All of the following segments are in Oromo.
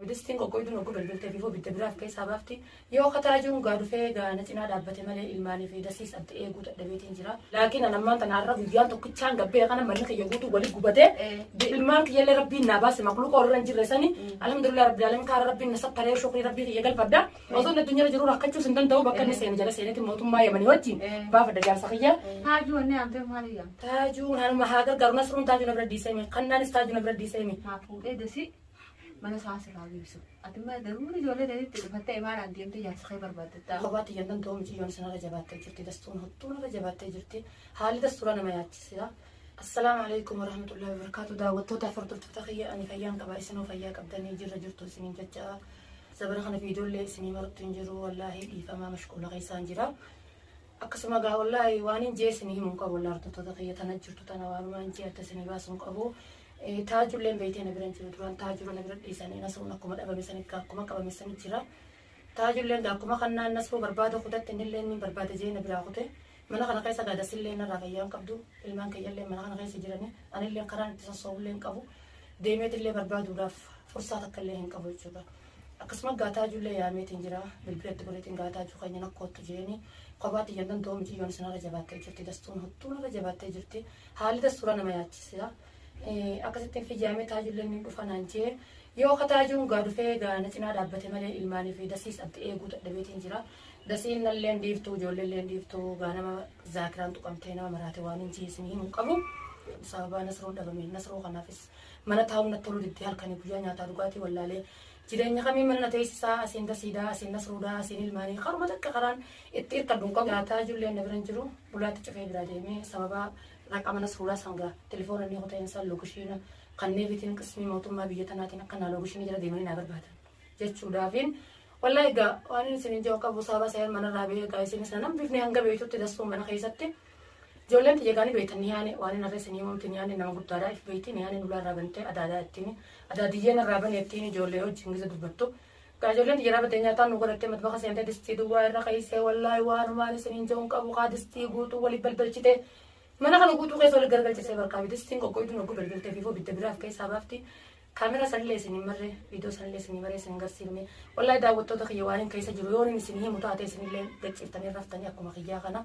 Abidistiin qoqqoyduun oggu belbeltee bifoo bidda biraaf keessaa baafti. Yoo kataraa jiru gaa dhufee gaa na cinaa dhaabbate malee ilmaanii fi dasiis abdi eeguu dadhabeetiin jira. Laakiin an ammaan tana har'a guyyaan tokkichaan gabbee kana manni kiyya guutuu wali gubatee ilmaan kiyyallee rabbiin naa baase makluuqa warra hin jirre sani alhamdulillah rabbil alamin kaara rabbiin na sattaree shukrii rabbii kiyya galfadha. Osoo na dunyara jiru rakkachuus hin danda'u bakka inni seene jala seenetti mootummaa yamanii wajjin baafadha jaarsa kiyya. Taajuu wanni amtee maali yaamta? Taajuun anuma haa gargaaru nasruun taajuu na bira diiseemi kannaanis taajuu na bira diiseemi. Haa fuudhee dasii. mana isaa sirraa geessu. Ati immoo daruun ijoollee ta'etti dhufattee imaaraan deemtee jaarsa kee barbaaddattaa. Kophaatti iyyan danda'u miciyyoon sanarra jabaattee jirti. Dastuun hattuun irra jabaattee jirti. Haalli dastuura nama yaachisira. Assalaamu alaikum warahmatullahi wabarakatuh. Daawwattoota afur turtoota kiyya ani fayyaan qaba isinoo fayyaa qabdanii jirra jirtu isiniin jecha zabana kana viidiyoollee isinii marattu hin jiru wallaahi dhiifamaa mashquula keessaan jira. Akkasuma gaa wallaahi waan hin jee isinii himu hin qabu wallaahi turtoota kiyya tana jirtu tana waanumaan jee adda isinii baasu hin qabu. Taajulleen beeytee na bira hin jiru duraan taajura na bira dhiisanii nasruun akkuma dhabame sanitti gaa akkuma qabame sanitti jira. Taajulleen gaa akkuma kannaan nasruu barbaada kutatti innillee inni barbaada jee na biraa kute. Mana kana keessa gaa dasillee narraa fayyaa hin qabdu ilmaan kiyyallee mana kana keessa jiranii anillee karaan itti sossoobullee hin qabu. Deemeetillee barbaaduudhaaf fursaa takkallee hin qabu jechuudha. Akkasuma Gaataajuullee yaameetiin jira. Bilbila itti godheetiin Gaataajuu keenya na koottu jeeni. Kophaa tiyyan danda'u miti yoon isin irra jabaattee jirti. Dastuun hottuun irra jabaattee jirti. Haalli dastuura nama yaachisa. Akkasittiin fiyyaamee taajuulleen ni dhufa naan jee. Yoo ka taajuun gaa dhufee gaa na cinaa dhaabbate malee ilmaanii fi dasiis abdi eeguu dadhabeetiin jira. Dasiin nalleen dhiiftuu ijoolleelleen dhiiftuu gaa nama zaakiraan tuqamtee nama maraate waan hin jiisin himu hin qabu. Sababaa nasruun dhabame nasruu kanaafis Mana taa'uun natti toluu diddee halkanii guyyaa nyaataa dhugaatii wallaalee jireenya kamii mana na teessisaa asiin dasiidaa asiin nas ruudaa asiin ilmaanii karuma takka karaan itti hirkadhu hin qabu nyaataa ijoolleen na bira hin jiru bulaatti cufee biraa deemee sababa raqama nas ruudaa sangaa telefoona inni kuteen san lookishiina kannee bitiin qismii mootummaa biyya tanaatiin akka naa lookishiinii jala deemanii naa barbaadan jechuudhaafiin wallahi egaa waan isin hin jiru qabu sababa seer manarraa bee egaa isinis na nambifne hanga beektutti dassuu mana keessatti Ijoolleen tiyya egaa ni beektan nihaane waan hin harre isinii himamti nihaane nama guddaadha if beekti nihaane nulaa irraa bantee adaadaa ittiin adaadiyyee narraa bane ittiin ijoollee wajjin gize dubbattu egaa ijoolleen tiyya dhaabattee nyaataan nu godhattee matbaka seentee distii duwwaa irra keessee wallaahi waan maan isiniin je'uun qabu kaa distii guutuu waliif balbalchitee mana kana guutuu keessa waliif gargalchisee barkaa fi distiin qoqqoyduun oggu balbaltee fi foo bidda biraaf keessaa baafti Camera san illee isin hin marre video san illee isin hin marre isin hin garsiifne wallahi daawwattoota kiyya waanin keessa jiru yoon hin isin himu taate isin illee gachiiftanii raftanii akkuma kiyyaa kana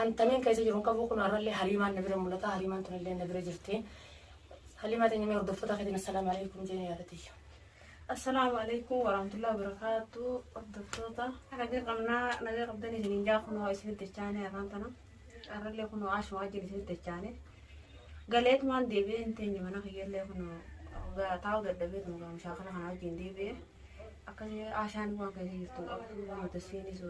an tamiin keessa jiru hin qabu kun har'a illee haliimaan na bira mul'ata haliimaan tun illee na bira jirti haliimaa teenya mee hordoftoota keetiin assalaamu alaikum jeeni yaadatiyya. Assalaamu alaikum warahmatullahi wabarakatuh hordoftoota. Nagaa qabnaa nagaa qabdan isin hin jaakunoo isin itti chaanee arraan tana. Carrallee kunoo asuma wajjin isinitti dachaanee galeetumaan deebi'ee hin teenye mana kiyyallee kunoo ga- taa'uu dadhabeetuma gaa mushaakala kana wajjin deebi'ee akkasii ashaan waan keessa jirtu hin qabdu waan tasiinis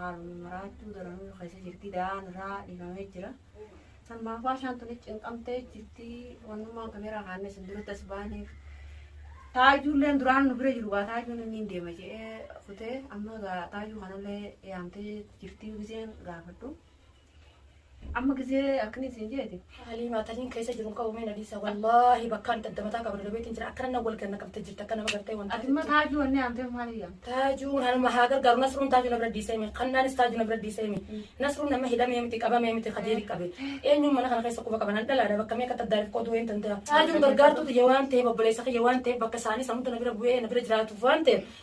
haaluma maraachuu daranuu keessa jirti da'aan irraa dhiifamee jira. Sammaaf ashaan tuni cinqamtee jirti wannummaan kameeraa kaannes hin duratti as baaneef taajuulleen duraan nu bira jiru gaa taajuun inni hin deema jedhee kutee amma gaa taajuu kanallee yaamtee jirtii gizeen gaafadhu. Amma gizee akkanii siin jeeti. Haalii maataniin keessa jiru qabu mee nadiisa wallaahi bakkaan itti addamataa qaba dalabeetiin jira akkana nan wal ganna qabte jirti akka nama gartee wanta. Ati immoo taajuu wanni amtee maaliif yaamte? Taajuun hanuma haa gargaaru nasruun taajuu na bira dhiisee mi kannaanis taajuu na bira dhiisee mi nasruun nama hidhamee miti qabamee miti kajeeri qabe eenyuun mana kana keessa quba qaban an dhalaadha bakka meeqa taddaariif qoduu een tantaa taajuun gargaartuu tiyya waan ta'eef obboleessa kiyya waan ta'eef bakka isaanii samuutu na bira bu'ee na bira jiraatuuf waan ta'eef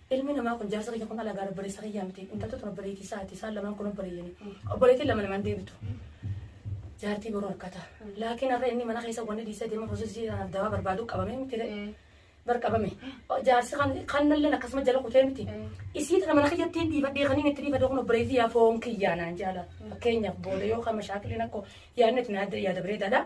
Ilmi namaa kun jaarsa kiyya kun alagaa obboleessa kiyyaa miti. Intaltu tun obboleettii isaati. Isaan lamaan kun obboleeyyani. Obboleettiin lama lamaan deebitu. Jaartii boruu harkata. Laakiin har'a inni mana keessa wanni dhiisee deema prosesii kanaaf dawaa barbaadu qabamee miti re'ee. Bar qabame. Jaarsi kan kannalleen akkasuma jala kutee miti. Isii tana mana kiyyattiin dhiifadhee kaniin itti dhiifadhee kun obboleettii yaa foon kiyyaa naan jaala. Fakkeenyaaf booda yoo kan mashaakiliin akkoo yaadni itti yaada bareedaadha.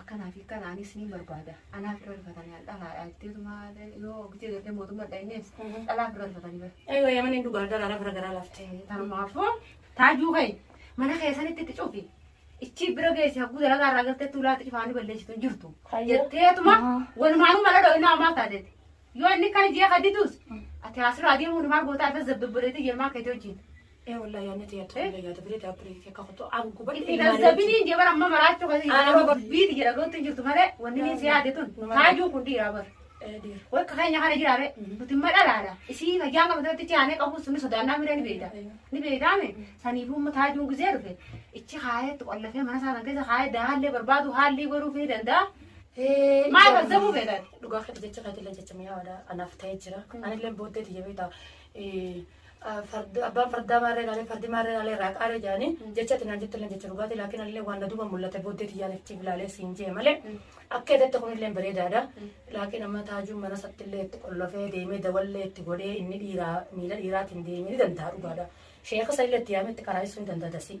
Akkanaa fi akkana anis niin barbaada. Anaa firra rifatanii an dhalaadha jetteetuma yoo bitee gartee mootummaa dhaynees dhalaa firra rifatanii bara. Eewa yamaniin dhugaa daraara fira garaa lafte. Tanumaafuu taajuu ka'e mana keessanitti itti cufi. Ichi bira geessi hagguu dalagaa irraa galteetti ulaatti cufaanii balleessitu hin jirtu. Jetteetuma walumaanuu mala dhoo'inaa ammaa taateeti. Yoo inni kan jee ka didus ati asirraa deemuun maal gootaa irra zabbibbireetii jirmaa keetii wajjin. Ee wallahi yaadni ta'e ta'e illee yaada biree ta'e biree akka kutu aan gubadhe Itti gazzabiniin jee bara amma maraachuu kasi Ana yeroo gubba- biiti jedha lootti hin jirtu malee wanni inni si yaade tun Nama- taajuu kun dhiiraa bara. Dhiira. Wakka keenya kana jiraare nuti imma dhalaadha. Isii fayyaan qabdu irratti ce'aanee qabu sun sodaannaa miree ni beekta. Ni beektaame saniifuu immoo taajuun gizee dhufe ichi kaayee itti qollafee mana isaa kan keessa kaayee dahaallee barbaadu haallii godhuuf ni danda'a. Maal kazzabuu feetan? Dhugaa keetti jecha keetillee jecha mi'aawaadha. Anaaf ta'ee jira. Anillee booddee tiyya beektaa. Abbaan fardaa maarree laalee fardi maarree laalee raaqaaree jedhanii jecha ati naan jettillee jecha dhugaati laakiin anillee waan na duuba mul'ate booddee tiyyaan itti ilaalee siin jee malee akka eedatte kunillee bareedaadha. Laakiin amma taajuun mana sattillee itti qollofee deemee dawallee itti godhee inni dhiiraa miila dhiiraatiin deemee ni danda'a dhugaadha. Sheeka sanillee itti yaamee itti qaraayessuu ni danda'a dasii.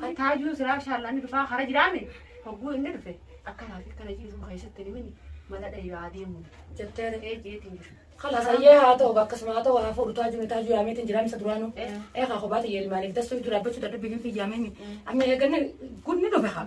Kan taajuu siraa shaallaan dhufaa hara jiraame hogguu inni dhufe akka laafi kana ciisuma keessatti nimini mala dhayuu adeemu jettee dhaqee jeetiin jiru. Kala sayyee haa ta'u bakka suma haa ta'u haa fuudhu taajuu ni taajuu yaameetiin jiraame isa duraanu. Ee haa kophaati yeelmaaniif dassuu dura abbachuu dadhabbii hin fiyyaameen. Amma eeganne gudni dhufe haa.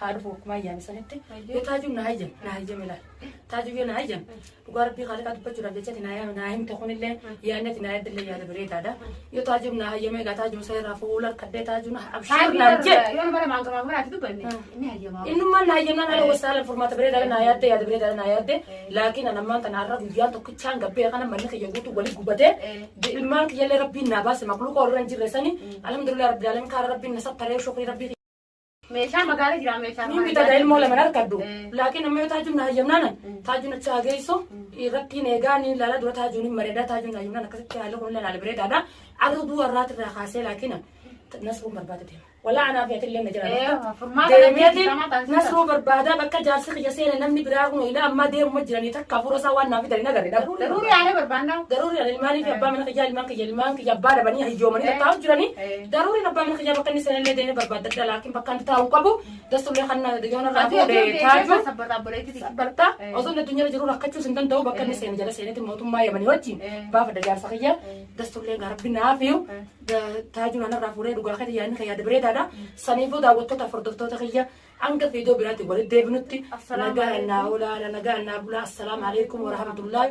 haa dhufu akkuma ayyaana sanitti yoo taajuu na hayyame na hayyame laal taajuu yoo na hayyame dhugaa rabbii kaaliqaa dubbachuudhaaf jechati na yaame na himte kunillee yaannati na yaadillee yaada bareedaadha yoo taajuu na hayyame egaa taajuu isa irraa fuula harkadhee taajuu na abshiir naan jedhe Yoo nama lamaan gamaa gamaatti dubbanne ni hayyamaa. innummaan na hayyamnaan ala wasaalan furmaata bareedaadha na yaadde yaada bareedaadha na yaadde laakiin an ammaan kana har'a guyyaan tokkichaan gabbee kana manni kiyya guutuu wali gubatee ilmaan kiyyallee rabbiin naa baase maqluuqa warra hin jirre sani alhamdulillah rabbil alamin kaara rabbiin na sapparee shukrii rabbii Meeshaa magaala jira meeshaa. Niin bitadha ilmoo lama harkadhu. Laakiin amma yoo taajuun na hayyamnaanan taajuun achi haa geessu irrattiin eegaa niin laala dura taajuun hin bareedaa taajuun na hayyamnaan akkasitti haalli kun laala bareedaadha. Arra du'a irraati irraa kaasee laakiin nasruun barbaada deema. Walaa anaa fi atillee na jira. Deemeeti nasruu barbaada bakka jaarsi kiyya seena namni biraa kun ilaa ammaa deemuma jiranii takka hafuura isaa waan naaf fidanii nagarre dhabuu. Daruuri aanee barbaannaa. Daruuri ilmaanii fi abbaa mana kiyyaa ilmaan kiyya ilmaan kiyya abbaa dhabanii hayyoomanii tattaa'u jiranii. Daruuriin abbaa mana kiyyaa bakka inni seenallee deemee barbaaddadha laakiin bakka inni taa'uu qabu dassullee kan yoona irraa fuudhe taaju barta osoo inni addunyaa jiru rakkachuus hin danda'u bakka inni seene jala seenetti mootummaa yamanii wajjin baafadha jaarsa kiyya dassullee garabbi naafiyu taaju naan irraa fuudhee dhugaa keetti yaadni kan yaada bareedaadha saniifuu daawwattoota hordoftoota kiyya hanga fiidoo biraatti walitti deebinutti nagaa nannaa olaana nagaa nannaa bulaa assalaamu alaikum warahmatullahi